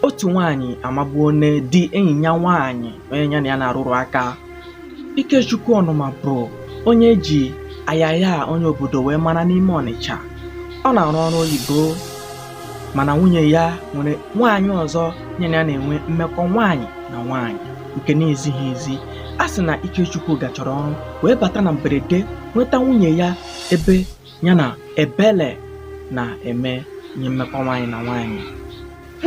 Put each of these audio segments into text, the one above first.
Otu nwaanyị amagbuone di enyi ya nwaanyị onye ya na ya na-arụrụ aka. Ikechukwu Ọnụma bụ onye e ji ayaya onye obodo wee mara n'ime Ọnịcha. Ọ na-arụ ọrụ oyibo mana nwunye ya nwere nwaanyị ọzọ ya na ya na-enwe mmekọ nwaanyị na nwaanyị nke na-ezighị ezi. A sị na Ikechukwu gachara ọrụ wee bata na mberede nweta nwunye ya ebe ya na ebele na-eme ihe mmekọ nwaanyị na nwaanyị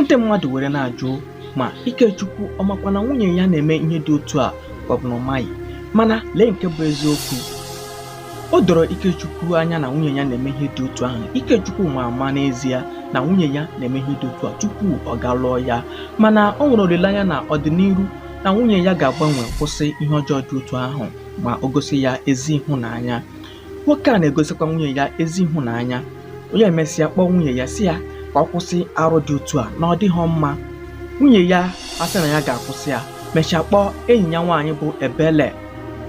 ndị mmadụ were na-ajụ ma Ikechukwu ọ makwa na nwunye ya na-eme ihe dị otu a ka ọ bụ na ọ maghị mana lee nke bụ eziokwu o doro Ikechukwu anya na nwunye ya na-eme ihe dị otu ahụ Ikechukwu ma ama n'ezie na nwunye ya na-eme ihe dị otu a tupu ọ ga lụọ ya mana o nwere olileanya na ọdịnihu na nwunye ya ga-agbanwe kwụsị ihe ọjọọ dị otu ahụ ma o gosi ya ezi ịhụnanya nwoke a na-egosikwa nwunye ya ezi ịhụnanya onye emesịa kpọọ nwunye ya sị ya ka ọ kwụsị arụ dị otu a na ọ dịghị mma nwunye ya asị na ya ga-akwụsị ya mechaa kpọọ enyi ya nwaanyị bụ ebele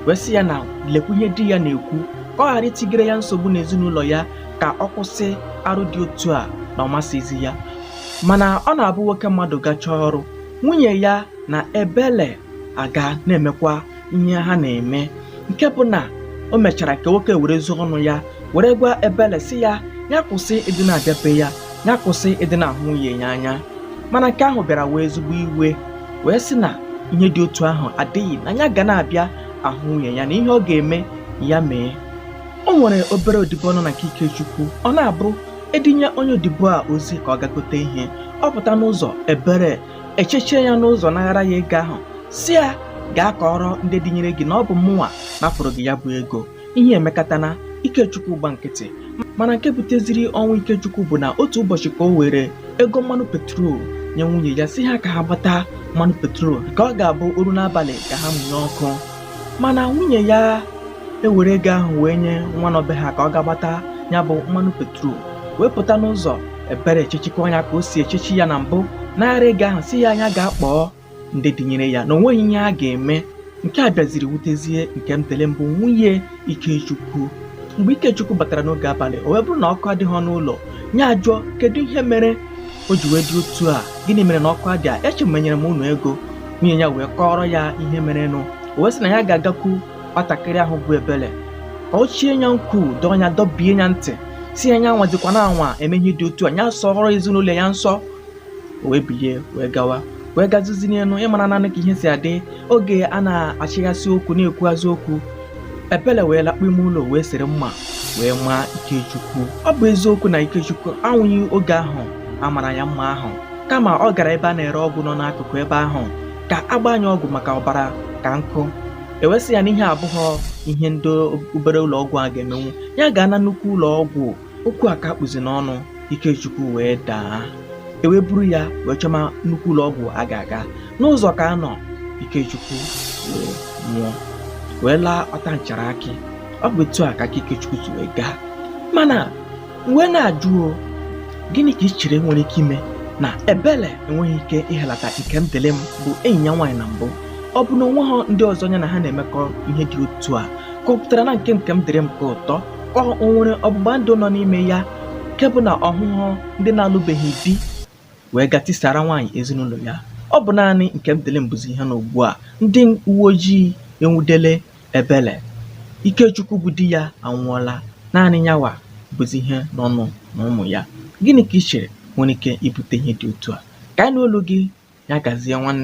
wee sị ya na lekwa ihe di ya na-ekwu ka ọ ghara itigere ya nsogbu n'ezinụlọ ya ka ọ kwụsị arụ dị otu a na ọ masịzi ya mana ọ na-abụ nwoke mmadụ gachaa ọrụ nwunye ya na ebele aga na-emekwa ihe ha na-eme nke bụ na o mechara ka nwoke werezie ọnụ ya were gwa ebele sị ya ya kwụsị ịdị na-abịa be ya ya kwụsị ịdị na-ahụ nwunye ya anya mana nke ahụ bịara wee ezigbo iwe wee sị na ihe dị otu ahụ adịghị na ya ga na-abịa ahụ nwunye ya na ihe ọ ga-eme ya mee o nwere obere odibo nọ na nke Ikechukwu ọ na-abụ edinye onye odibo a ozi ka ọ ga gote ihe ọ pụta n'ụzọ ebere echechie ya n'ụzọ naghara ya ego ahụ sị ya gaa kọọrọ ndị dinyere gị na ọ bụ mụnwa napụrụ gị ya bụ ego ihe emekatana ikechukwu agba nkịtị mana nke buteziri ọnwụ ikechukwu bụ na otu ụbọchị ka o were ego mmanụ petrol nye nwunye ya sị ha ka ha gbata mmanụ petrol ka ọ ga-abụ o ruo n'abalị ka ha mụnye ọkụ mana nwunye ya ewere ego ahụ wee nye nwa nọ be ha ka ọ ga gbata ya bụ mmanụ petrol wee pụta n'ụzọ ebere echechikwa ya ka o si echechi ya na mbụ naghara ego ahụ sị ya nya ga kpọọ ndị dinyere ya na o nweghị ihe a ga-eme nke a bịaziri wutezie Nkemdịlịm bụ nwunye Ikechukwu mgbe Ikechukwu batara n'oge abalị o wee bụrụ na ọkụ adịghị n'ụlọ ya ajụọ kedu ihe mere o ji wee dị otu a gịnị mere na ọkụ adịa eche m enyere m unu ego nwunye ya wee kọọrọ ya ihe merenụ o wee sị na ya ga-agakwu nwatakịrị ahụ bụ ebele ka o chie ya nkwu dọọ ya dọbie ya ntị sị ya nya anwazikwana anwa eme ihe dị otu a ya sọrọ ezinụlọ ya nsọ o wee bilie wee gawa wee gazizi n'elu ị marananụ ka ihe si adị oge a na-achịghasị okwu na-ekwughazị okwu ebele wee lakpu ime ụlọ wee sere mma wee maa ikechukwu ọ bụ eziokwu na ikechukwu anwụghị oge ahụ a mara ya mma ahụ kama ọ gara ebe a na-ere ọgwụ nọ n'akụkụ ebe ahụ ka a gbaa ya ọgwụ maka ọbara ka nkụ e wee sị ya na ihe a abụghọ ihe ndị obere ụlọ ọgwụ a ga-emenwu ya gaa na nnukwu ụlọ ọgwụ okwu a ka kpụzi n'ọnụ Ikechukwu wee daa e wee buru ya wee chọma nnukwu ụlọ ọgwụ a ga-aga n'ụzọ ka a nọ Ikechukwu wee nwụọ wee laa ọta nchara akị ọ bụ etu a ka aka Ikechukwu si wee gaa mana m wee na-ajụ o, gịnị ka i chere nwere ike ime na ebele enweghị ike ịhelata Nkemdịrịm bụ enyi ya nwaanyị na mbụ ọ bụ na o nweghọ ndị ọzọ ya na ha na-emekọ ihe dị otu a ka ọ pụtara na nke Nkemdịrịm ka ụtọ ọ o nwere ọgbụgba ndụ nọ n'ime ya nke bụ na ọ hụhụ ndị na-alụbeghị di wee ga tisara nwaanyị ezinụlọ ya ọ bụ naanị nkemdịrịm bụzi ihe nọ ugbu a ndị uwe ojii enwudele ebele ikechukwu bụ di ya anwụọla naanị yawa bụzi ihe nọnụ na ụmụ ya gịnị ka ị chere nwere ike ibute ihe dị otu a ka anyị nụ olu gị ya gazie nwanne